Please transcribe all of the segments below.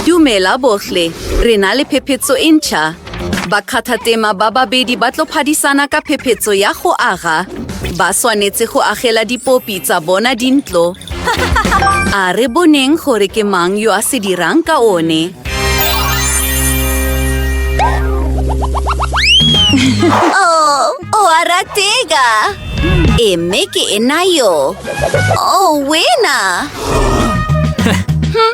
Dumela bohle, re na le phephetso e ntšha. Bakgathatema ba babedi ba tlo phadisana ka phephetso ya go aga. Ba swanetse go agela dipopi tsa bona dintlo. A re boneng gore ke mang yo a se dirang ka one. Oh, o a ratega! E mme ke e nayo. Oh, wena!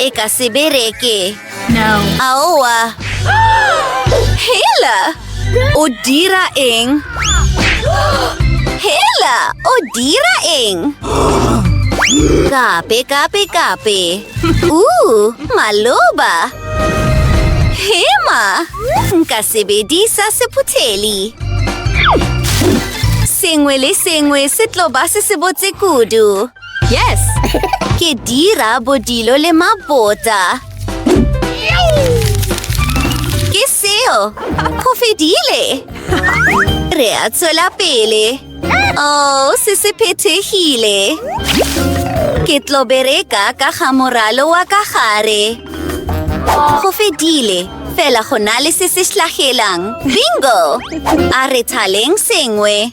E ka se bereke. Aowa. Hela! O dira eng? Hela! O dira eng? Kape, kape, kape. Uu, maloba. Hema! Nka sebedisa sephutheli. Sengwe le sengwe se tlo ba se se botse kudu. Yes! Ke dira bodilo le mabota. Ke seo! Go fedile! Re a tswela pele. Oh, se se phethegile. Ke tlo bereka ka ga moralo wa ka gare. Go fedile. Fela go na le se se hlagelang. Bingo! A re thaleng sengwe.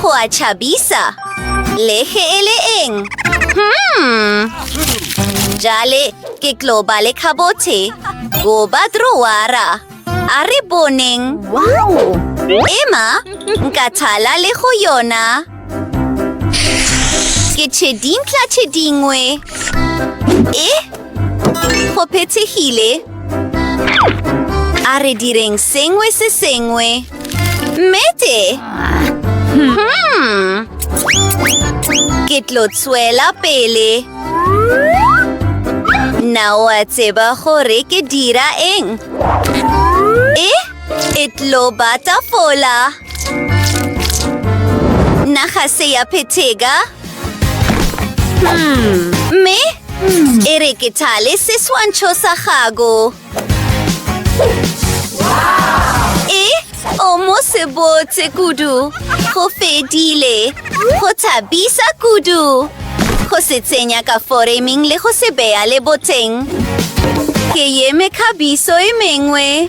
Go a tšhabisa! Le ge e le eng? Hmm. Jale ke tlo ba le khabothe goba drowara. A re boneng. Emma, nka thala le go yona. Ke tšhe dintlha tše dingwe. E? Go phethegile. A re direng sengwe se sengwe. Mmete! Hmm. Ke tlo tswela pele. Na o a tseba gore ke dira eng? E? E tlo bata fola. Naga se ya phethega. Hmm, mme e re ke thale seswantšho sa gago e o mo se botse kudu go fedile go thabisa kudu go se tsenya ka foreming le go se beya le boteng ke yeme kgabiso e mengwe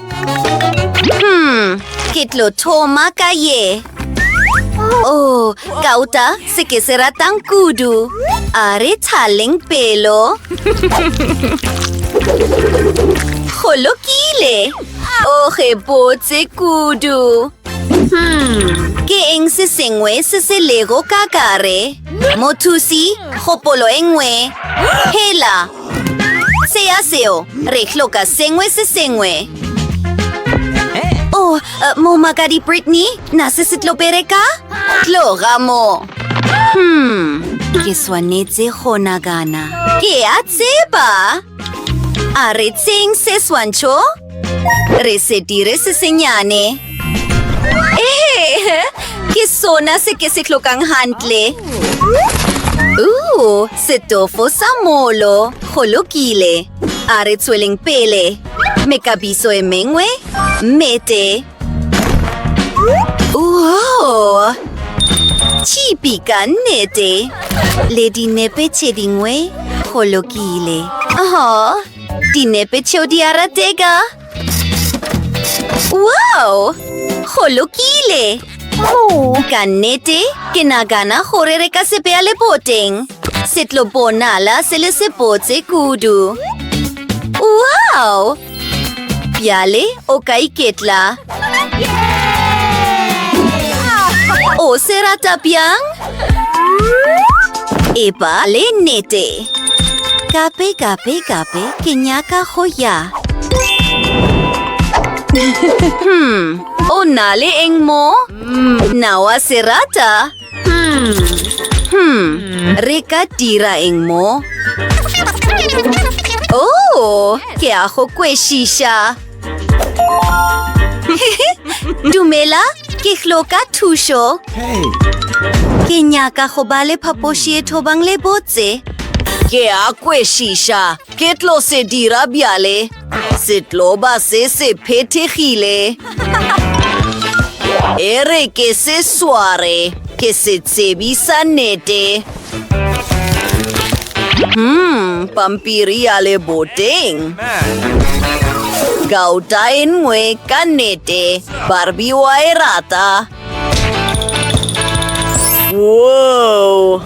Hmm, ke tlo thoma ka ye. Oh, kauta se ke se ratang kudu. A re thaleng pelo. Go lokile. O oh, ge botse kudu. Hmm, ke eng se sengwe se se lego ka kare? Mothusi, kgopolo e nngwe. Hela, Se ya seo, re hloka sengwe se sengwe. Oh, uh, eh, momakadi Brittany, na se se tlo bereka? Tloga mo. Hmm, ke swanetse go nagana. Ke a tseba. A re tseng se swantšho? Re se dire se senyane. Ehe, ke sona se ke se tlhokang hantle. Ooh, setofo sa molo. Go lokile. A re tsweleng pele. Mekabiso e mengwe? Mete. Ooh! Chipi ka nnete. Le dinepe tše dingwe? Go lokile. Oh, Dinepe tšeo di a ratega! Wow! Go lokile! Ka nnete, ke nagana gore re ka se beya leboteng. Se tlo bonala se le sebotse kudu. Wow! Bjale o ka iketla. O se rata bjang? epa le nnete kape kape kape ke nyaka go ya hmm o na le eng mo hmm. na wa se rata hmm hmm re ka dira eng mo oh ke a go kwešiša Dumela, ke hloka thušo. Ke nyaka go ba le phapoši e thobang le botse. Ke a kwešiša, ke tlo se dira bjale. Setloba se se phethegile. E re ke se sware, ke se tsebisa nete. Hmm, pampiri ya leboteng. Gauta e nngwe ka nnete, Barbie wa e rata. Whoa!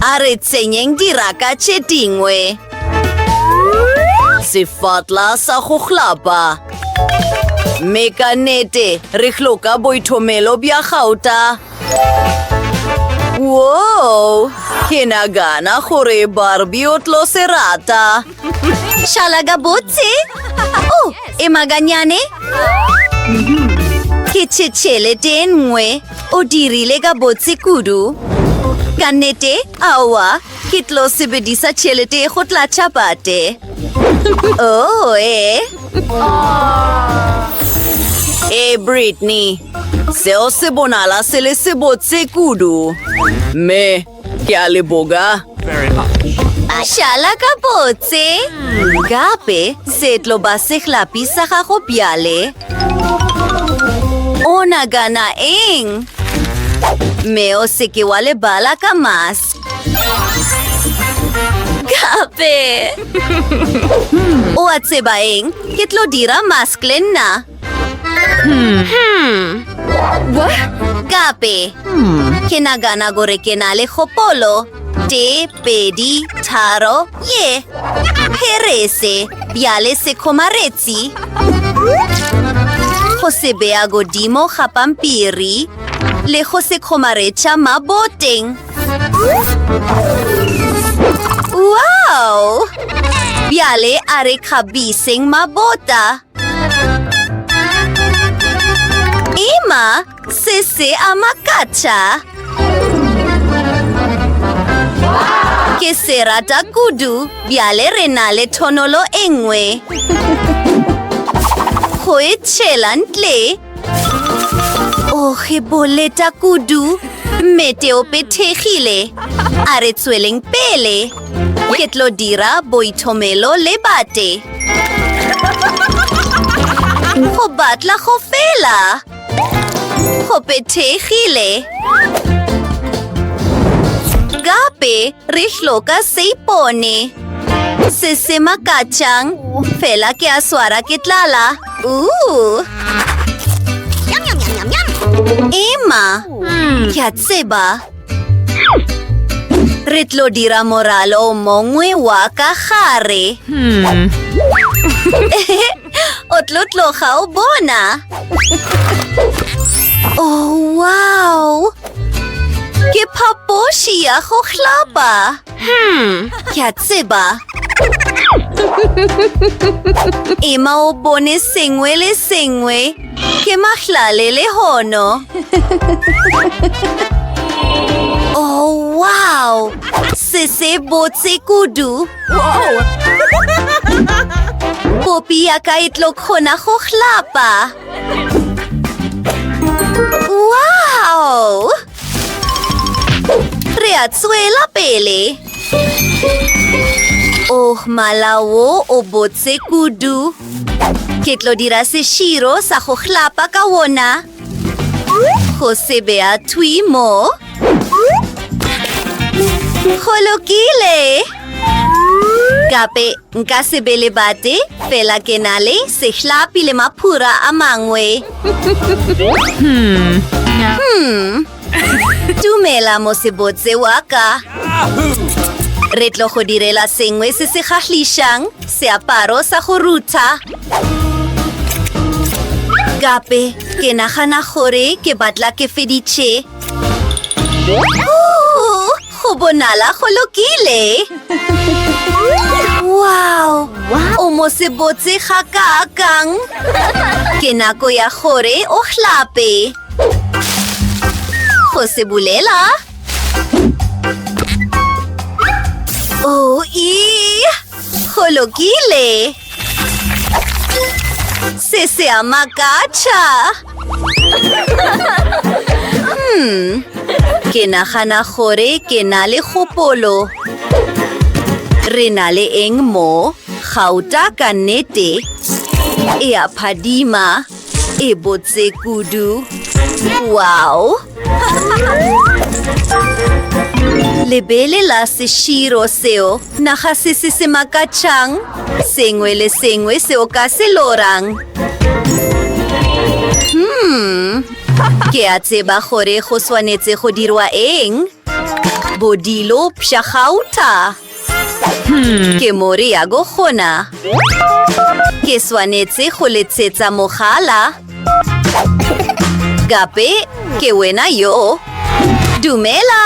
A re tsenyeng diraka tše dingwe. Sefatla sa go hlapa. mme ka nete re hloka boithomelo bja gauta Whoa! Ke nagana gore Barbie o tlo se rata. Šala gabotse. Oh, e maganyane. Ke tšhetšhele te nngwe. O dirile gabotse kudu. Ka nnete, aowa, Ke tlo sebedisa tšhelete go tlatša bate. Oh, ee. Ee, Brittany. Seo se bonala se le sebotse kudu. Mme, ke a leboga. Šala ka botse. Gape, se tlo ba sehlapi sa gago bjale. O nagana eng? Mme o seke wa lebala ka mask. Gape! o a tseba eng? Ke tlo dira mask le nna. Hmm. Hmm. Gape! Hmm. Ke nagana gore ke na le gopolo. Te, pedi, tharo, ye! Perese, bjale se kgomaretsi. Go se bea godimo ga pampiri le go se kgomaretša maboteng. Wow! Bjale a re kgabiseng mabota. Emma, se se a makatša. Ke se rata kudu, bjale re na le thonolo e nngwe. Go e tšhela ntle. o ge boleta kudu mme te o pethegile a re tsweleng pele ke tlo dira boithomelo le bate go batla go fela go pethegile gape re hloka seipone se se makatšang fela ke a swara ke tlala Emma, hmm. ke a tseba. Re tlo dira moralo o mongwe wa ka gare. Hmm. o tlo tloga o bona. Oh, wow! Ke phapoši ya go hlapa! Hmm, ke a tseba. Ema o bone sengwe le sengwe. Ke mahlale le hono. Oh, wow! Se se botse kudu. Popi ya ka e tlo kgona go hlapa. Wow! Re a tswela pele. Oh, mala wo o botse kudu. Ke tlo dira seširo sa go hlapa ka wona. Go se bea thwi mo. Go lokile. Gape nka se be le bate, fela ke na le sehlapi le maphura a mangwe. Hmm. Hmm. Dumela mosebotse wa ka. Re tlo go direla sengwe se se gahlišang, seaparo sa go rutha. Gape ke nagana gore ke batla ke feditše. Go bonala go lokile. Wow! O mo se botse ga kakang. Ke nako ya gore o hlape. Go se bulela. Oh, ee! Go lokile. Se se a makatša. Hmm. Ke nagana gore ke na le kgopolo. Re na le eng mo? Gauta ka nnete. E a phadima. E botse kudu. Wow! Lebele la seširo seo naga se se se makatšang, sengwe le sengwe seo ka se lorang. Hmm, ke a tseba gore go swanetse go dirwa eng. Bodilo pšhagauta. Hmm, ke more ya go gona. Ke swanetse go letshetsa mogala. Gape ke wena yo. Dumela!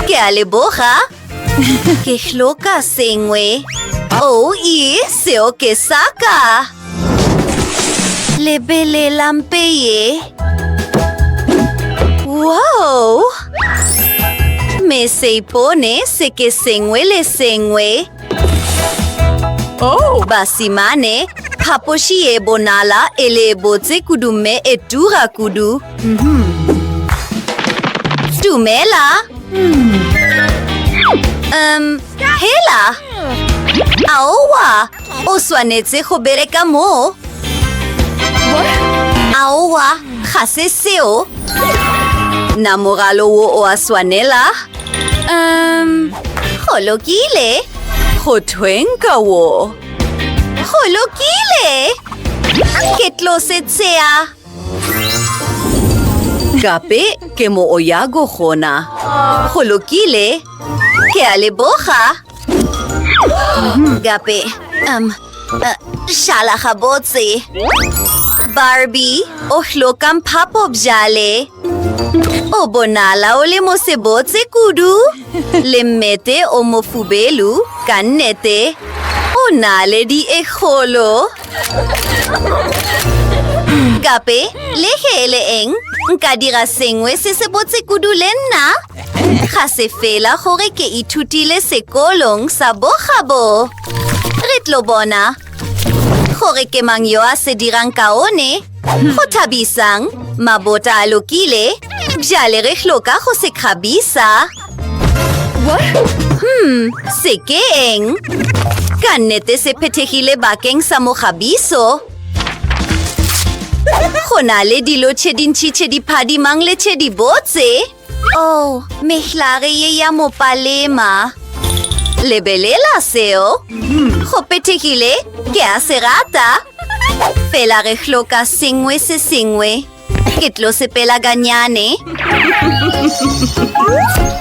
ke a leboga. Ke hloka sengwe. Oh, e, seo ke saka. Lebelela mpe ye. Wow! Me se ipone se ke sengwe le sengwe. Oh! Basimane, phapoši ye bonala e le botse kudu mme e tura kudu. Mm-hmm. Dumela. Mm. Um, hela. Aowa. O swanetše go bereka moo. Aowa, ga se seo. Na mogalo wo o a swanela? Um, go lokile. Go thweng ka wo? Go lokile! Ke tlo se tsea. Gape ke mo o yago gona. Go lokile. Ke a leboga. Gape, um, uh, šala gabotse. Barbie, o hlokang phapo bjale. O bonala o le mosebotse kudu. Le mmete o mofubelu, ka nnete. O na le di e kgolo. Gape, le ge e le eng, nka dira sengwe se se botse kudu le nna. Ga se fela gore ke ithutile sekolong sa bogabo. Re tlo bona gore ke mang yo a se dirang kaone. Go thabisang, mabota a lokile. Bjale re hloka go se kgabisa. Hmm, se ke eng? Ka nnete se phethegile bakeng sa mogabiso. Go na le dilo tše dintšhi tše di phadimang le tše di botse. Oh, mehlare ye ya mo palema. Lebelela seo. Go pethegile, ke a se rata. Fela re hloka sengwe se sengwe. Ke tlo sepela ganyane.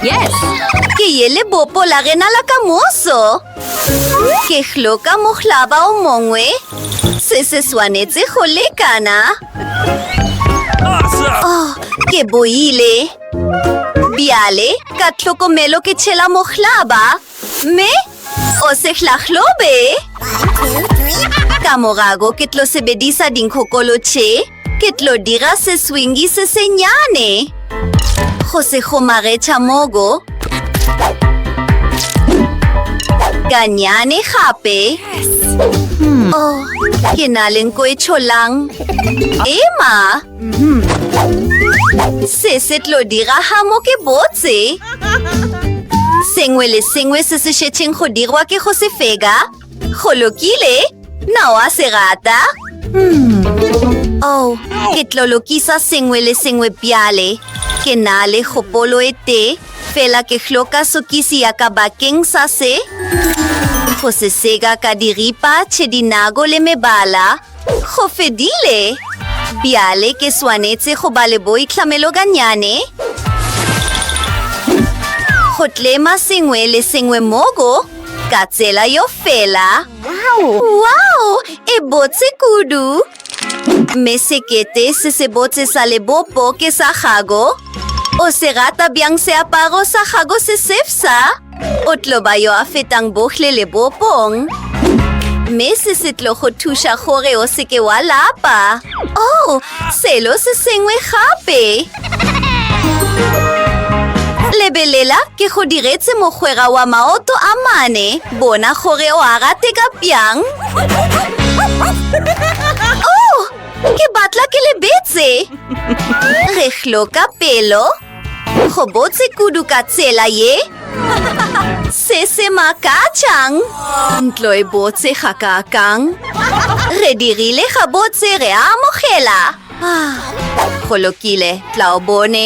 Yes! Ke ye lebopo la rena la ka moso. Ke hloka mohlaba o mongwe. Se se swanetse go lekana. Oh, ke boile. Bjale, ka tlhokomelo ke tšhela mohlaba, mme o se hlahlobe. Ka morago ke tlo sebedisa dinkhokolo tše, ke tlo dira seswingi se senyane. Go se gomagetša mogo. Ganyane gape. Hmm. Oh, ke na le nko e tšholang. Ema! Hmm. Se se tlo diraga mo ke botse. Sengwe le sengwe se se šetšeng go dirwa ke go se fega. Go lokile, na wa se rata? Hmm. Oh, ke tlo lokisa sengwe le sengwe bjale. Ke na le gopolo e tee, fela ke hloka sokisi ya ka bakeng sa se. Go se sega ka diripa tše dinago le mebala. Go fedile! Bjale ke swanetse go ba le boitlhameloganyane. Go tlema sengwe le sengwe mogo ka tsela yo fela. Wow! E botse kudu! Mme sekete se se botse sa lebopo ke sa gago. O se rata bjang seaparo sa gago se sefsa? O tlo ba yo a fetang bohle le bopong. Mme se se tlo go thuša gore o seke wa lapa. Oh, selo se sengwe gape. Lebelela, ke go diretse mogwera wa maoto a mane. Bona gore o a rateka bjang. Oh, ke batla ke lebetse. Re hloka pelo. Go gobotse kudu ka tsela ye se se makatšang. Ntlo e botse ga kakang. Re dirile gabotse re a amogela. Ah, go lokile, tla o bone.